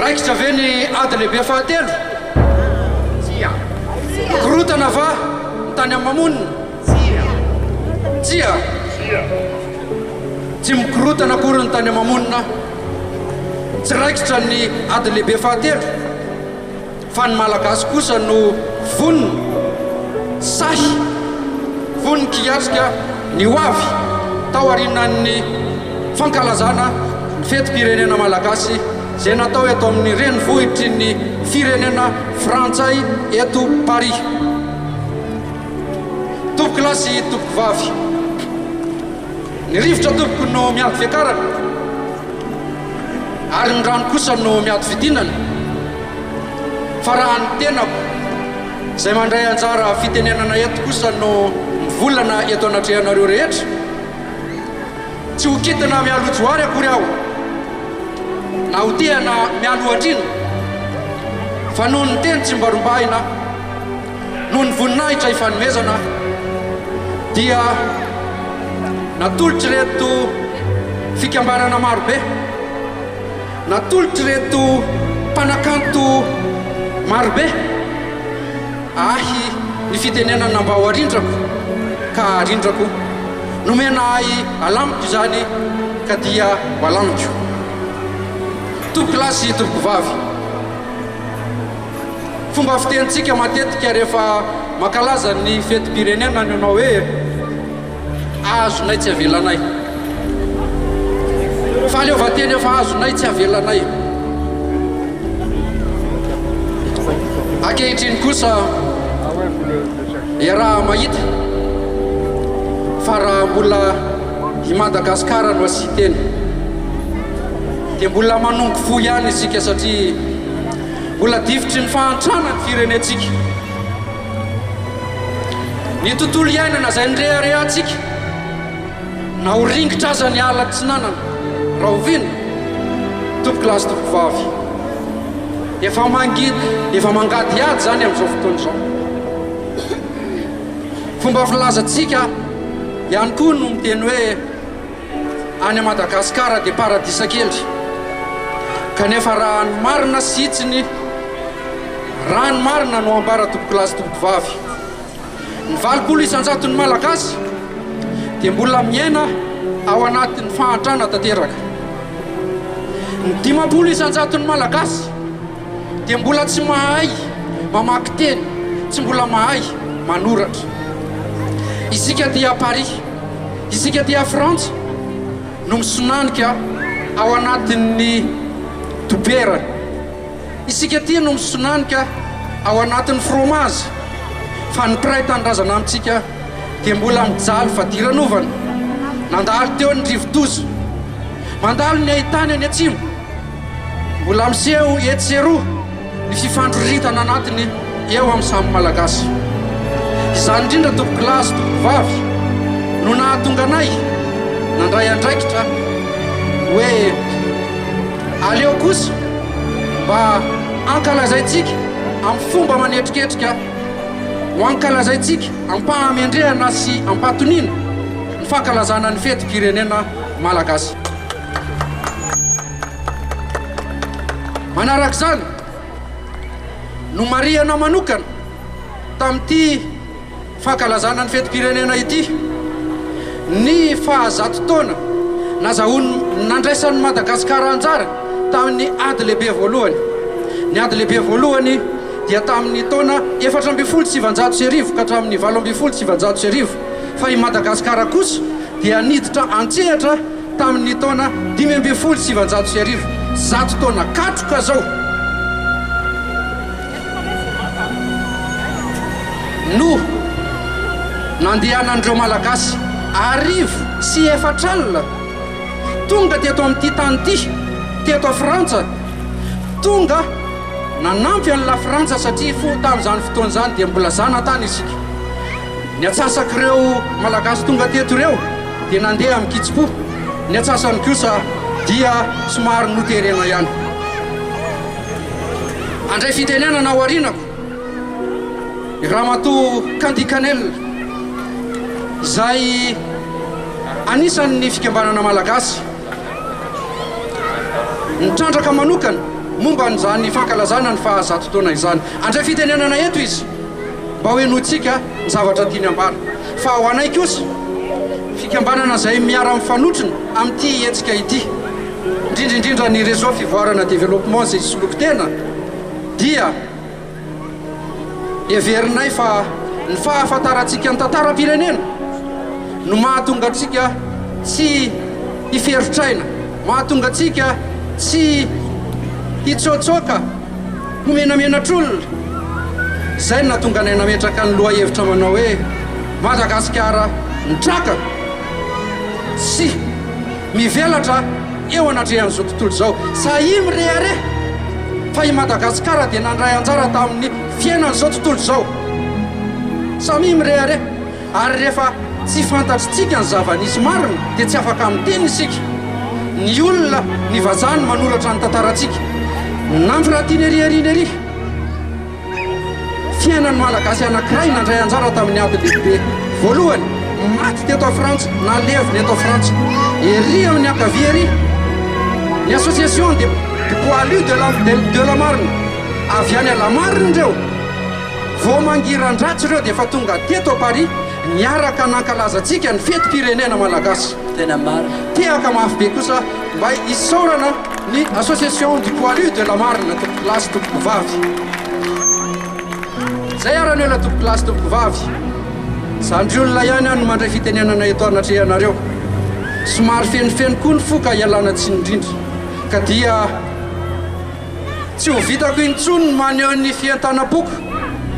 Raikitra ve ny ady lehibe fahatelo? Tsia. Mikorontana va ny tany amin'ny mamonina? Tsia. Tsia. Tsia. Tsy mikorontana akory ny tany amin'ny mamonina. Tsy raikitra ny ady lehibe fahatelo. Fa ny Malagasy kosa no vonona, sahy, vonon-kiatrika ny ho avy, taorianan'ny fankalazana ny fetim-pirenena malagasy izay natao eto amin'ny renivohitry ny firenena frantsay eto Paris. Tompokolahy sy tompokovavy, ny rivotra tompoko no miady fiakarana ary ny rano kosa no miady fidinana. Fa raha ny tenako, izay mandray anjara fitenenana eto kosa no mivolana eto anatrehanareo rehetra, tsy ho kitina mialoha Johary akory aho, na ho tehana mialoha Andriana, fa noho ny teny tsimbarombahina, noho ny voninahitra ifanomezana, dia natolotr'ireto fikambanana marobe. Natolotr'ireto mpanakanto marobe ahy ny fitenenana na mba ho arindrako ka arindrako, nomena ahy alamiko izany ka dia ho alamiko. Tompoko lahy sy tompoko vavy, fomba fitenintsika matetika rehefa mankalaza ny fetim-pirenena ny manao hoe. Azonay tsy avelanay. Fahaleovantena efa azonay tsy avelanay. Ankehitriny kosa iaraha mahita fa raha mbola i Madagasikara no asiteny dia mbola manongo fo ihany isika satria mbola difotry ny fahantrana ny firenentsika. Ny tontolo iainana izay nireharehantsika, na ho ringitra aza ny ala atsinanana, rahoviana? Tompoko lahy sy tompoko vavy, efa mangidy, efa mangady ady izany amin'izao fotoana izao. Fomba filazantsika ihany koa no miteny hoe, Any Madagascar dia paradisa kely kanefa raha ny marina sy hitsiny raha ny marina no ambara tompokolahy sy tompokovavy ny valopolo isanjaton'ny malagasy dia mbola miaina ao anatin'ny fahantrana tanteraka ny dimampolo isanjaton'ny malagasy Dia mbola tsy mahay mamaky teny, tsy mbola mahay manoratra. Isika aty à Paris, isika aty à Frantsa no misonanika ao anatin'ny dobera, isika aty no misonanika ao anatin'ny fromazy, fa ny mpiray tanindrazana amintsika dia mbola mijaly fadiranovana. Nandalo teo ny rivodoza, mandalo ny haitany any atsimo. Mbola miseho etsy sy eroa ny fifandroritana anatiny eo amin'ny samy Malagasy. Izany indrindra tompoko lahy sy tompoko vavy no nahatonga anay nandray andraikitra hoe aleo kosa mba ankalazaintsika amin'ny fomba manetriketrika ho ankalazaintsika am-pahamendrehana sy am-pahatoniana ny fankalazana ny fetim-pirenena Malagasy. Manaraka izany, nomarihana manokana tamin'ity fankalazana ny fetim-pirenena ity ny fahazato taona nazahoan'ny nandraisan'i Madagasikara anjara tamin'ny Ady Lehibe Voalohany. Ny Ady Lehibe Voalohany dia tamin'ny taona efatra ambin'ny folo sy sivinjato sy arivo ka hatramin'ny valo ambin'ny folo sy sivinjato sy arivo fa i Madagasikara kosa dia niditra an-tsehatra Tamin' ny taona dimy ambin'ny folo sy sivinjato sy arivo, zato taona katroka izao, no nandehanan' ireo Malagasy arivo sy efatra alina tonga teto amin' ity tany ity teto a Frantsa, tonga nanampy an' i Lafrantsa satria fo tamin' izany fotoana izany dia mbola zanatany isika. Ny antsasak'ireo Malagasy tonga teto ireo dia nandeha amin-kitsim-po, ny antsasany kosa dia somary noterena ihany. Handray fitenenana ao aorianako i Ramatoa Candy Canel, izay anisan'ny fikambanana Malagasy nitrandraka manokana momba an'izany fankalazana ny faha zato taona izany. Handray fitenenana eto izy. Mba hohenointsika ny zavatra tiany ambara. Fa ho anay kosa, fikambanana izay miara-mifanotrona amin'ity hetsika ity, indrindra indrindra ny Réseau Fivoarana Développement izay hisoloky tena, dia heverinay fa ny fahafantarantsika ny tantaram-pirenena no mahatonga antsika tsy hiferotr'aina, mahatonga antsika tsy hitsôtsôka. Ho menamenatr'olona. Izay no nahatonga anay nametraka ny lohahevitra manao hoe Madagasikara mitraka sy mivelatra eo anatrehan'izao tontolo izao. Sahia mirehareha fa i Madagasikara dia nandray anjara tamin'ny fiainan'izao tontolo izao. Samia mirehareha. Ary rehefa tsy fantatritsika ny zava-nisy marina dia tsy afaka miteny isika. Ny olona, ny vazaha no manoratra ny tantarantsika. Nampy Ratineri Herineri, fiainan'ny Malagasy anankiray nandray anjara tamin'ny ady lehibe voalohany, maty teto Frantsa na levona eto Frantsa. Ery amin'ny ankavia ery, ny Association des Poilus de la Marne, avy any Alamarina ireo. Vao mangiran-dratsy ireo dia efa tonga teto Paris niaraka nankalaza antsika ny fetim-pirenena malagasy. Tena marina. Tehaka mafy be kosa mba isaorana ny Association du Poilu de la Marne Tompokolahy sy Tompokovavy. Zay ara neo la Tompokolahy sy Tompokovavy. Zandry olona ihany aho no mandray fitenenana eto anatrehanareo. Somary fenofeno koa ny fo ka ialana tsiny indrindra. Ka dia. Tsy ho vitako intsony ny maneho ny fientanam-poko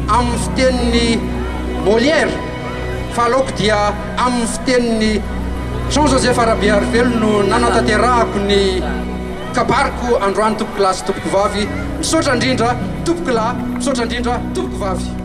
amin'ny fitenin'i Molière fa aleoko dia amin'ny fitenin'i Jean Joseph Rabearivelo no nanatanterahako ny kabariko androany tompoko lahy sy tompoko vavy. Misaotra indrindra tompoko lahy, misaotra indrindra tompoko vavy.